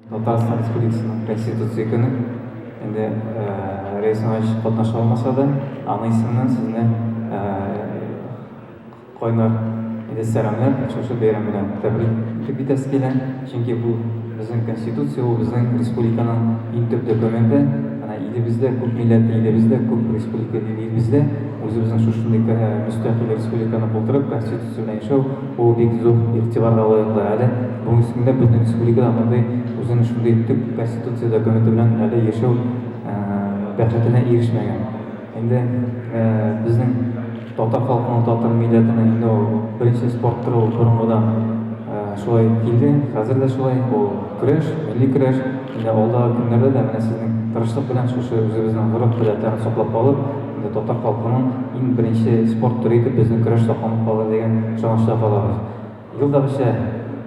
Татарстан Республикасының Конституция көне. Инде Рәис Иванович катнаша алмаса да, аның исеменнән сезне кайнар иде сәламләр, шушы бәйрәм белән тәбрик итеп итәсе килә. Чөнки бу безнең Конституция, ул безнең республиканың иң төп документы. Менә илебездә күп милләтле, илебездә күп республика, илебездә үзебезнең шушындый мөстәкыйль республиканы булдырып, Конституция Сүзеннән чу, ул бик зур игътибарга лаек да әле. Бүген исемле безнең республикада мондый үзен шундый төп конституция документы белән әле яшәү бәхетенә ирешмәгән. Инде безнең татар халкының, татар милләтенең инде ул беренче спорт төре ул борынгыдан шулай килде, хәзер дә шулай, ул көрәш, милли көрәш. Инде алдагы көннәрдә дә менә сезнең тырышлык белән шушы үзебезнең гореф-гадәтләрен саклап калып, Татар халкының иң беренче спорт төре итеп безнең көрәш сакланып калыр дигән ышанычта калабыз. Ел да берсә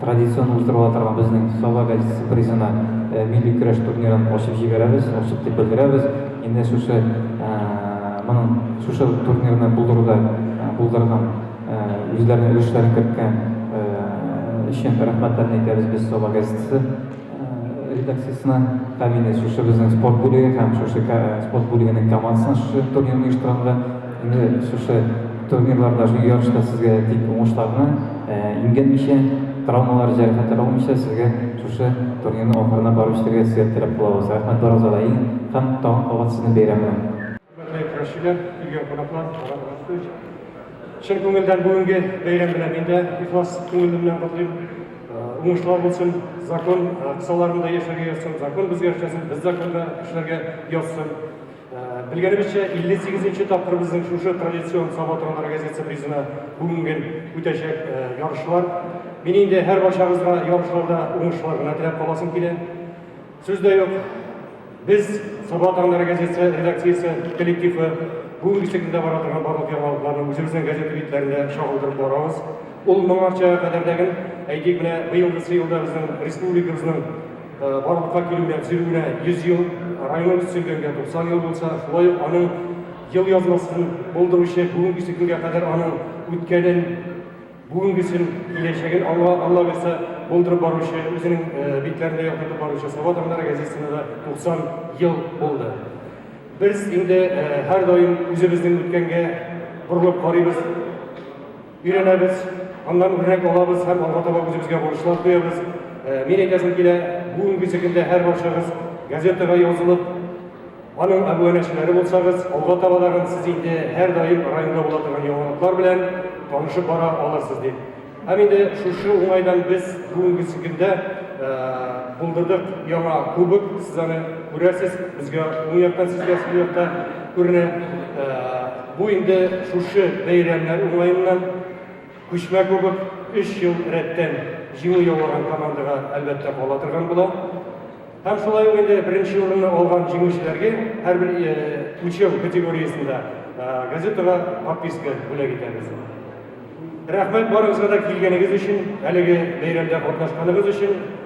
традицион уздырыла торган безнең Саба газетасы призына милли көрәш турнирын ачып җибәрәбез, ачып дип белдерәбез. Инде шушы моның шушы турнирны булдыруда булдырган, үзләренең өлешләрен керткән өчен рәхмәтләрен әйтәбез без Саба газетасы. редакциясенә тәэмин итү шушы безнең спорт бүлеге һәм шушы спорт бүлегенең командасына шушы турнирны оештырганга инде шушы турнирларда шушы ярышта сезгә тик уңышларны имгәнмичә травмалар җәрәхәтләр алмыйча сезгә шушы турнирны ахырына барып җитәргә сезгә теләп калабыз рәхмәт барыгызга да иң һәм тагын кабат сезне бәйрәм белән Хөрмәтле Рәшидә, килгән кунаклар, Марат Расулович. Чын күңелдән бүгенге бәйрәм белән мин дә ихлас күңелемнән котлыйм. Уңышлар булсын, закон кысаларында яшәргә язсын, закон безгә эшләсен, без законда эшләргә язсын. Белгәнебезчә, 58-нче тапкыр безнең шушы традицион Саба торган газетасы призына бүгенге үтәчәк ярышлар. Мин инде һәрбарчагызга ярышларда уңышлар гына теләп каласым килә. Сүз дә юк, без, Саба таңнары газетасы редакциясе коллективы, бүгенге секундта бара торган барлык яңалыкларны үзебезнең газета битләрендә чагылдырып барабыз. Ул моңарча кадәрдәген, әйтик, менә быелгысы елда безнең республикабызның барлыкка килүенә, төзелүенә 100 ел, районыбыз төзелгәнгә 90 ел булса, шулай ук аның елъязмасын булдыручы, бүгенге секундга кадәр аның үткәнен, Бүгенгесен, киләчәген аңа, Алла бирсә, булдырып баручы, үзенең битләрендә яктыртып баручы Саба таңнары газетасына да 90 ел булды. Без инде һәрдаим үзебезнең үткәнгә борылып карыйбыз, өйрәнәбез, аннан үрнәк алабыз һәм алга таба үзебезгә бурычлар куябыз. Мин әйтәсем килә, бүгенге көндә һәрбарчагыз газетага язылып, Аның әбүәнәчеләре булсагыз, алга табадагын сез инде һәрдаим районда була торган яңалыклар белән танышып бара алырсыз, дип. Һәм инде шушы уңайдан без бүгенге көндә булдырдык яңа кубок, сез аны күрәсез, безгә уң яктан, сезгә сул якта күренә. Бу инде шушы бәйрәмнәр уңаеннан Күчмә кубок өч ел рәттән җиңү яулаган командага, әлбәттә, кала торган була. Һәм шулай ук инде беренче урынны алган җиңүчеләргә һәрбер үлчәү категориясендә газетага подписка бүләк итәбез. Рәхмәт барыгызга да килгәнегез өчен, әлеге бәйрәмдә катнашканыгыз өчен.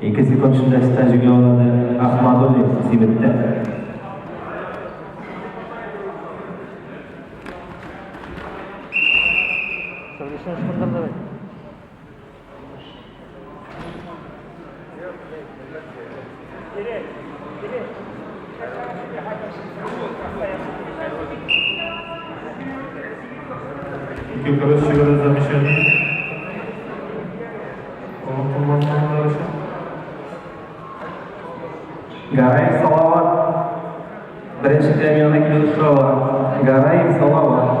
Ике секунд эчендә стаж юллады Ахмадуллин Сибеттә. Гараев Салават. Беренче премияны килеп сорала. Гараев Салават.